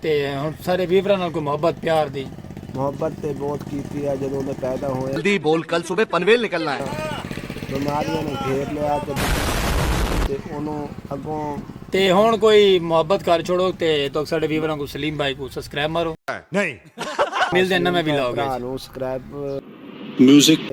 تے ہن سارے ویوراں نال کوئی محبت پیار دی۔ محبت تے موت کیتی ہے جدوں دے پیدا ہوئے۔ جلدی بول کل صبح پنویل نکلنا ہے۔ بیماریاں نے گھیر لیا تے بچاؤ تے اونوں اگوں۔ تے ہن کوئی محبت کر چھوڑو تے تہاک ساڈے ویوراں کوں سلیم بھائی کوں سبسکرائب مارو۔ ملدے ہیں نویں ولاگ اچ۔ میوزک۔